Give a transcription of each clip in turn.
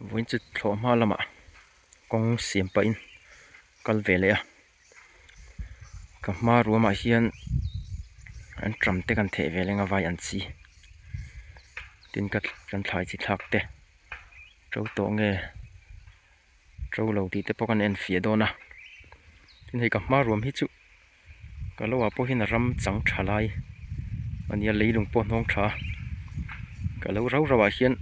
Vawiin chu thlawh hma lamah kawng siam pahin kal ve leh a ka hma ruamah hian an ṭam te kan theih ve leng avai an chi tin ka kan thlai chi thlak te ṭo tawh nge ṭo lo tih te pawh kan enfiah dawn a tin hei ka hma ruam hi chu-- ka lo ah pawhin a ram chang tha lai a nia lei lung pawh a hnawng tha a ka lo rau rau ah hian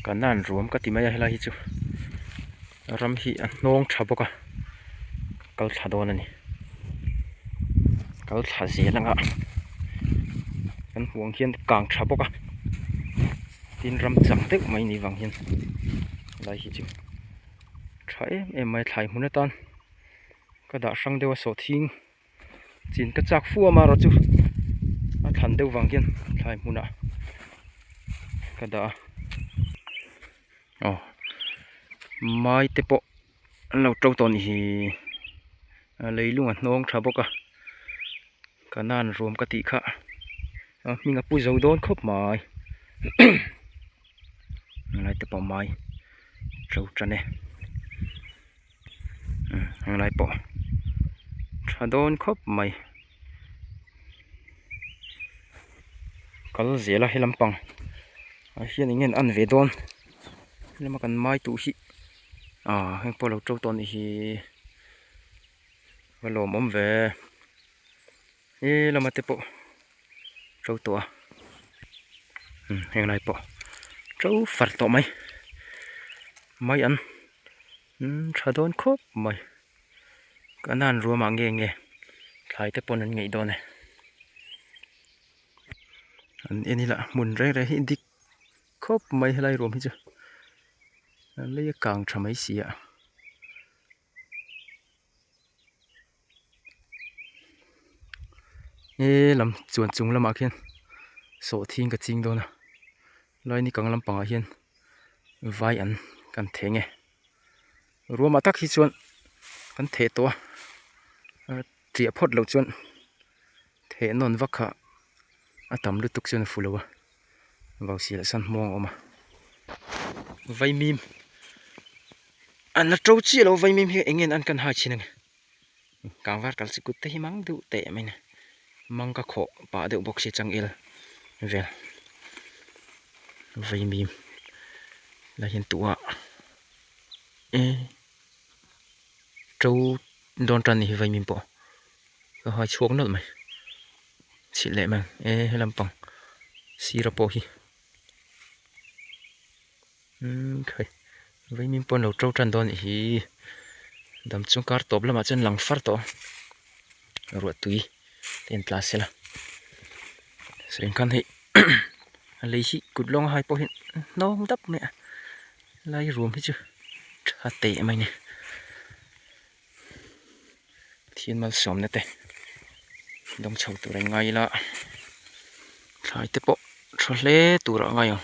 ka nan ruam ka ti mai a helai hi chu a ram hi a hnawng tha bawk a kal thla dawn a ni kal thla zel ang a kan hmuh ang hian kang tha bawk a tin ram chang deuh mai ni vang hian a lai hi chu tha em em mai a thlai hmun atan. ka dah hrang deuh a saw thing chin ka chak fuam a rawh chu a thlan deuh vang hian thlai hmunah ka dah a aw mai te pawh an lo to tawh a ni hi a lei lung a hnawng tha bawk a ka nan ruam ka tih kha a hming a pu zo dawn khawp mai a lai te pawh mai a to tan e. heng lai pawh tha dawn khawp mai kal zel a he lam pang ah hian eng nge an en ve dawn hlama kan mai tu hi ah heng pawh lo to tawh a ni hi ka lawm awm ve he lama te pawh to tawh a heng lai pawh to far tawh mai mai an. tha dawn khawp mai ka nan ruam ah nge nge thlai te pawn an ngeih dawn e an en ila hmun reng reng hi dik khawp mai helai ruam hi chu a leia kang tha mai si a. He lam chuan chung lamah khian sawhthi ka ching dawn a lai ni kang lampangah hian vai an kan theh nge ruamah tak hi chuan kan theh tawh a hriah phawt loh chuan-- Theh nawn vak kha a tam lutuk chuan a fu lo a, vau si leh san hmawng a awm a. Vaimim an la ṭo chiah lo, vaimim hi eng nge an kan hai chhin a ni. Kang var kal sikut te hi mang deuh teh mai a ni. Mang ka khawh pah deuh bawk si a changel vel. Vaimim la hian tuah a eeh ṭo dawn ṭan a ni hi vaimim pawh. ka hai chhuak nawlh mai chhilh leh mai ang e helam pang sira pawh hi umm khai vaimim pawh an lo to tan dawn a nih hi dam chung kar tawp lamah chuan lang far tawh a ruah tui te an tla sil a sawi ang khan hei a lei hi kut lawng a hai pawh hi nawng dap mai a lai ruam hi chu tha teh mai a ni. Thîn malsâwmna te dawng chho tûra in ngai ila thlai te pawh ṭha hle tûrah a ngai ang.